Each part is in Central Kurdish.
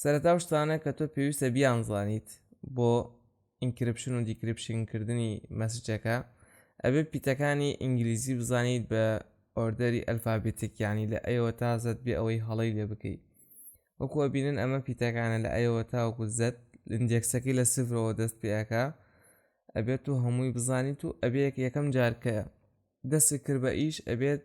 سەرەتا و شتانە کە تۆ پێویستە بیان زانیت بۆ ئینکرپشن و دیکرپشن کردنی مەسجەکە ئەبێ پیتەکانی ئینگلیزی بزانیت بە ئۆردەری ئەلفابێتێکیانی لە ئەیەوە تا زەت بێ ئەوەی هەڵی لێ بکەیت وەکو ئەبینن ئەمە پیتەکانە لە ئەیەوە تاوەکو زەت لندێکسەکەی لە سفرەوە دەست پێەکە ئەبێت و هەمووی بزانیت و ئەبێت یەکەم جارکە دەستی کرد بە ئیش ئەبێت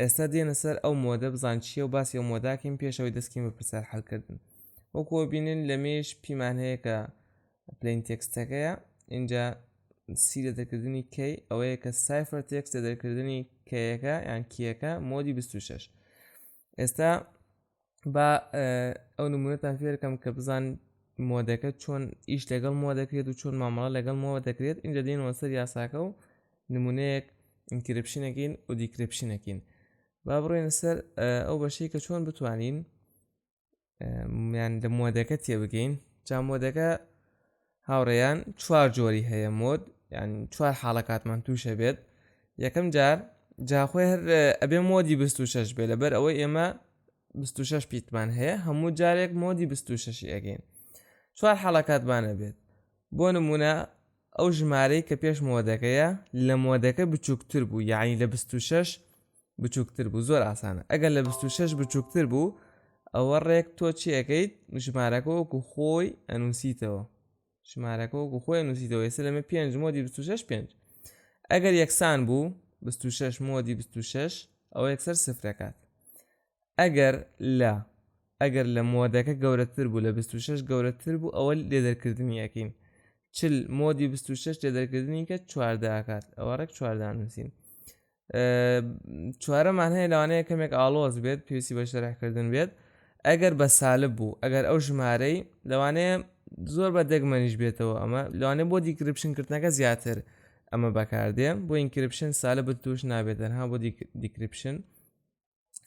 ئێستا دێنە سەر ئەو مۆدە بزان چیە و باسی ئەو مۆداکەین پێشەوەی دەستکەین بە پرسیار حلکردن وەکۆ بینن لە مێش پیمان هەیە کە پلین تێکستەکەیە اینجا سی لە دەکردنی کەی ئەوەیە کە سایفر تێکس لە دەرکردنی کەیەکە یان کیەکە مۆدی 26 ئێستا با ئەو نمونەتان فێرکەم کە بزان مۆدەکە چۆن ئیش لەگەڵ مۆ دەکرێت و چۆن مامەڵە لەگەڵ مۆوە دەکرێت ئینجا دێنەوە سەر یاساکە و نمونەیەک ئینکرپشنەکەین و دیکرپشنەکەین با بڕێن سەر ئەو بەشەی کە چۆن بتوانین میان لە مۆدەکە تێبگەین جا مۆدەکە هاوڕێیان چوار جۆری هەیە مۆد یان چوار حاڵەکاتمان تووشە بێت یەکەم جار جاخۆی هەر ئەبێ مۆدی 26 بێ لەبەر ئەوەی ئێمە 26 پیتمان هەیە هەموو جارێک مۆدی 26 ئەگەین چوار حاڵەکاتمانە بێت بۆ نمونە ئەو ژمارەی کە پێش مۆدەکەیە لە مۆدەکە بچووکتر بوو یعنی لە 26 بچووکتر بوو زۆر ئاسانە ئەگەر لە 26 بچووکتر بوو ئەوە ڕێک تۆ چیەکەیت ژمارەکە وەکو خۆی ئەنووسیتەوە ژمارەکە وەکو خۆی نووسیتەوە ئێستا لەمە پێنج مۆدی 26 پێنج ئەگەر یەکسان بوو 26 مۆدی 26 ئەوە یەکسەر سفرەکات ئەگەر لە ئەگەر لە مۆدەکە گەورەتر بوو لە 26 گەورەتر بوو ئەوە لێ دەرکردنی یەکەین چل مۆدی 26 لێ دەرکردنی کە چواردەکات ئەوە ڕێک چواردانووسین چوارەمان هەیە لەوانەیە کەمێک ئاڵۆز بێت پێویستی بە شەرحکردن بێت ئەگەر بە سالب بوو ئەگەر ئەو ژمارەی لەوانەیە زۆر بە دەگمەنیش بێتەوە ئەمە لەوانێ بۆ دیکرپشنکردنەکە زیاتر ئەمە بەکاردێ بۆ ئینکرپشن سالە بە توش نابێت دەرها بۆ دیکرپشن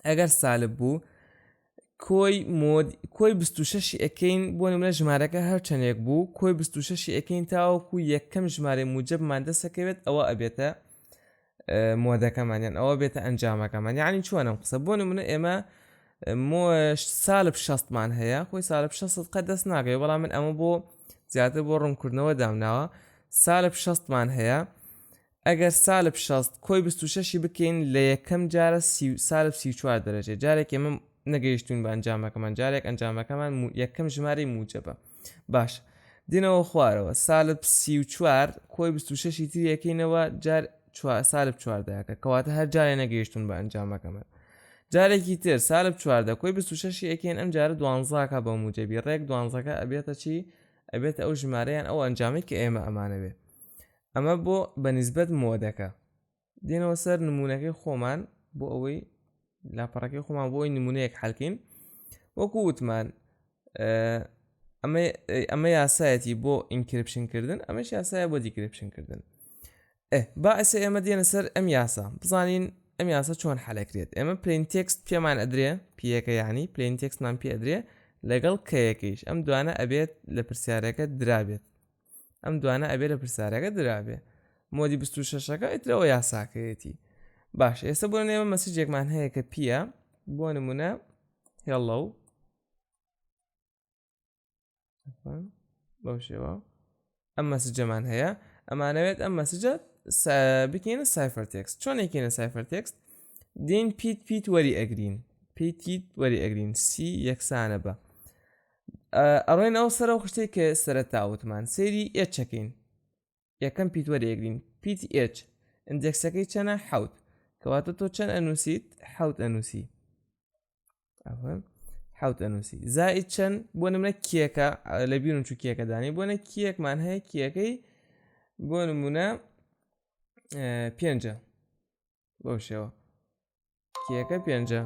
ئەگەر سالب بوو کۆی مۆد کۆی 26 ئەکەین بۆ نمرە ژمارەکە هەر چەندێک بوو کۆی 26 ئەکەین تاوەکو یەکەم ژمارە موجبمان دەسەکەوێت ئەوە ئەبێتە مۆدەکەمانیان ئەوە بێتە ئەنجامەکەمان یعنی چۆنم قسە بۆ نمونە ئێمە مۆش سالب شەستمان هەیە خۆی سالب شە قە دەست ناگەی بەڵام من ئەمە بۆ زیاتر بۆ ڕوونکردنەوە دامناوە سالب شەستمان هەیە ئەگەر سالب شەست کۆی بیست و شەشی بکەین لە یەکەم جارە سی و سالب سی و چوار دەرەجەیە جارێک ئێمە نەگەیشتوین بە ئەنجامەکەمان جارێک ئەنجامەکەمان یەکەم ژمارەی موجەبە باشە دێنەوە خوارەوە سالب سی و چوار کۆی بیست و شەشی تری یەکەینەوە جار سالب چواردەکە کەواتە هەر جارێ نەگەیشتون بە ئەنجامەکەمان جارێکی تر سالب چواردە کۆی بیست و شەشی یەکەین ئەم جارە دوانزاکە بە موجەبی ڕێک دوانزەکە ئەبێتە چی ئەبێت ئەو ژمارەیان ئەو ئەنجامی کە ئێمە ئەمانەوێت ئەمە بۆ بە نسبەت مۆدەکە دێنەوە سەر نمونونەکەی خۆمان بۆ ئەوەی لاپەڕەکەی خۆمان بۆی نمونەیەک حلکەین وەکو وتمان ئەمە یاسایەتی بۆ ئینکرپشن کردن ئەمەش یاسایە بۆ دیکرپشن کردن با ئەسە ئێمە دێنە سەر ئەم یاسا بزانین ئەم یاسا چۆن حلەکرێت ئێمە پلین تێکست پێمان ئەدرێ پیەکە یعنی پلین تێکسمان پێدرێ لەگەڵ کەیەکەیش ئەم دوانە ئەبێت لە پرسیارەکە درابێت ئەم دوانە ئەبێ لە پرسیارەکە درابێ مۆدی 26ەکە ئیترەوە یاساکەیەتی باش ئێستا بۆ نێمە مەسیجێکمان هەیە کە پییە بۆ نمونە هێڵە و بەو شێوە ئەم مەسجەمان هەیە ئەمانەوێت ئەم مەسجە بکەینە سایفەر تێکس چۆنێکینە سایفەر تێکس دین پیت پیت وەری ئەگرین پیتیت وەری ئەگرین سی یەکسانە بە ئەڕێن ئەو سەر و خشتێک کە سەرەتا وتمان سێری ئێچەکەین یەکەم پیت وەرێگرین پیت ئێچ ئەندێکسەکەی چەنە حوت کەواتە تۆ چەند ئەنووسیت حوت ئەنووسی حوت ئەنووسی زای چەند بۆ نمرە کیەکە لە بیرون چ کیەکەدانی بۆنە کیەکمان هەیە کیەکەی بۆ نمونە پێنجە بەو شێوە کیەکە پێنجە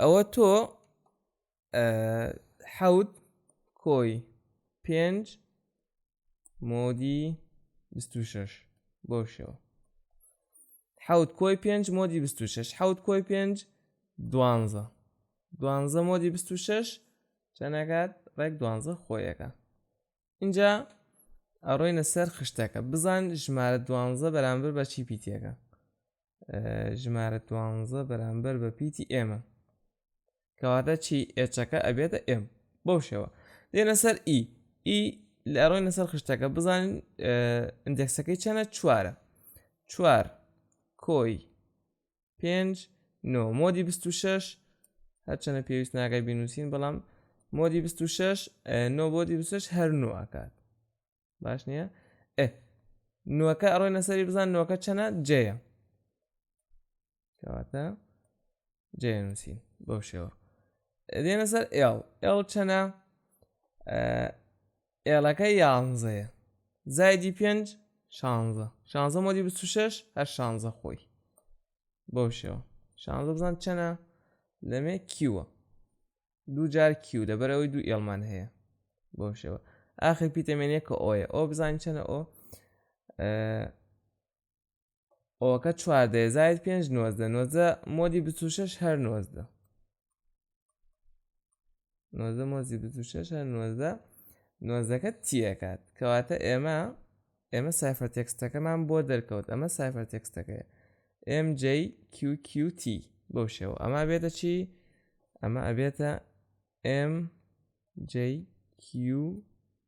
ئەوە تۆ حەوت کۆی پێنج مۆدی 26 بۆ شێوە حەوت کۆی پێنج مۆدی 26 حەوت کۆی پێنج دوانزە دوانزە مۆدی 26 چەنەکات ڕێک دوانزە خۆیەکە اینجا ئەڕۆینە سەر خشتەکە بزان ژمارە دوانزە بەرامبەر بە چی پیتەکە ژمارە دوانزە بەرامبەر بە پیتی ئێمە کەواتە چی ئێچەکە ئەبێتە ئێم بەو شێوە دێنە سەر ئی e. ئی e لە ئەڕۆینە سەر خشتەکە بزانین ئەندێکسەکەی چەنە چوارە چوار کۆی پێنج نۆ مۆدی بیست و شەش هەرچەنە پێویست ناگای بینوسین بەڵام مۆدی بیست و شەش نۆ بۆدی بسش هەر نو ئاکات باش نییە ئێ نوەکە ئەڕۆی نەسەری بزان نوەکە چەنە جەیە کەواتە جەیە نووسین بەو شێوە دێنە سەر ئێڵ ئێڵ چەنە ئێڵەکە یانزەیە زایدی پێنج شانزە شانزە مۆدی بست و شەش هەر شانزە خۆی بەو شێوە شانزە بزان چەنە لەمێ کیوە دوو جار کیو لەبەرەوەی دوو ئێڵمان هەیە بەو شێوە ئاخر پیتەمێنێکە ئۆیە ئەو بزانین چەنە ئەو ئەوەکە چواردە زاید پێنج نۆزدە نۆزدە مۆدی بچ و شەش هەر نۆزدە نۆزدە مۆزی بچ و شەش هەر نۆزدە نۆزەکە تیەکات کەواتە ئێمە ئێمە سایفەر تێکستەکەمان بۆ دەرکەوت ئەمە سایفەر تێکستەکەی MJQQT بەو شێوە ئەما بێتە چی ئەمە ئەبێتە MJQQT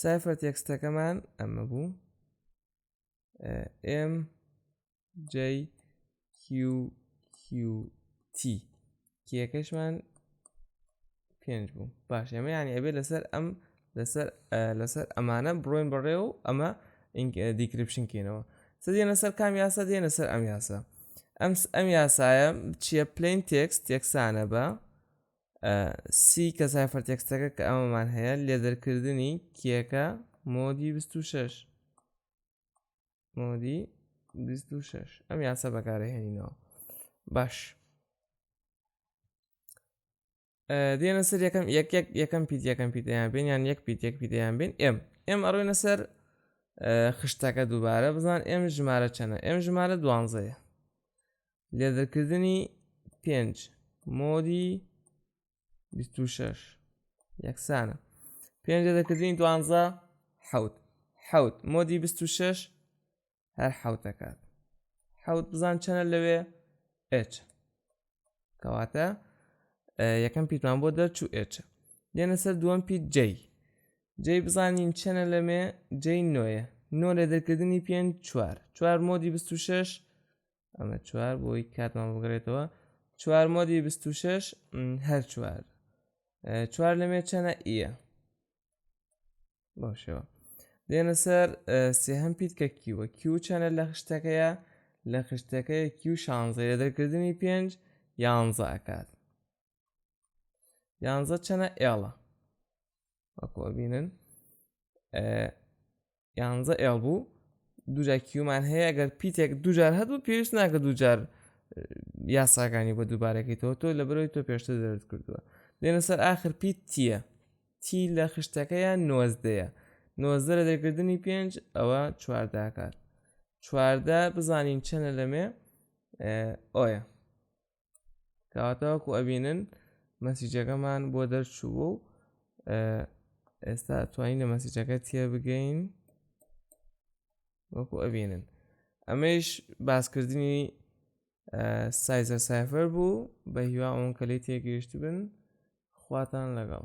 سایفەر تێکستەکەمان ئەمە بوو ئم JQQT کیەکەشمان پێنج بوو باش ئەمە یانی ئەبێت لەسەر ئەم لەسەر لەسەر ئەمانە بڕۆین بەڕێ و ئەمە دیکرپشن کەینەوە سەدیێنە سەر کام یاسا دێنە سەر ئەم یاسا ئەم ئەم یاسایە چیە پلین تێکس تێکسانە بە سی کە سایفەر تێکستەکە کە ئەمەمان هەیە لێ دەرکردنی کیەکە مۆدی 26 مۆدی 26 ئەم یاسا بەکارە هێنینەوە باش دێنە سەر یەکەم یەک یەک یەکەم پیت یەکەم پیتیان بین یان یەک پیت یەک پیتیان بین ئێم ئێم ئەڕوینە سەر خشتەکە دووبارە بزان ئێم ژمارە چەنە ئێم ژمارە دوانزەیە لێدرکردنی پێنج مۆدی 26 یەکسانە پێنج دەکردنی دوانزە حوت حوت مۆدی 26 هەر حوتەکات حوت بزان چەنە لەوێ ئچ کەواتە یەکەم پیتمان بۆ دەرچوو ئچ دێنە سەر دووەم پیت جەی جێی بزانین چەنە لەمێ جێی نۆیە نۆ لە دەرکردنی پێنج چوار چوار مۆدی 26 ئەمە چوار بۆی کاتمان بگرێتەوە چوار مۆدی 26 هەر چوار چوار لەمێ چەنە ئیە باشەوە دێنە سەر سێهەم پیت کە کیوە کیو چەنە لە خشتەکەیە لە خشتەکەی کیو شانزەیە دەرکردنی پێنج یانزە ئەکات یانزە چەنە ئێڵە وەکۆبینن یانزە ئێڵ بوو دوجار کیومان هەیە گەر پیتێک دوجار هەبوو پێویست ناکە دوجار یاساکانی بە دووبارەکەیتەوە تۆ لە برۆی تۆ پێشتر دەرت کردووە دێنە سەر ئاخر پیت تیە تی لە خشتەکەیان نۆزدەیە نۆزدە لە دەرکردنی پێنج ئەوە چوارداکات چواردە بزانین چەنە لەمێ ئۆیە کاتەوەکو ئەبینن مەسیجەکەمان بۆ دەرچوو و ئێستا توانین لە مەسیجەکە تێ بگەین وەکو ئەبینن ئەمەش باسکردنی سایزە سایفەر بوو بە هیوا ئەوەن کە لی تێگەیشت بن خواتان لەگەڵ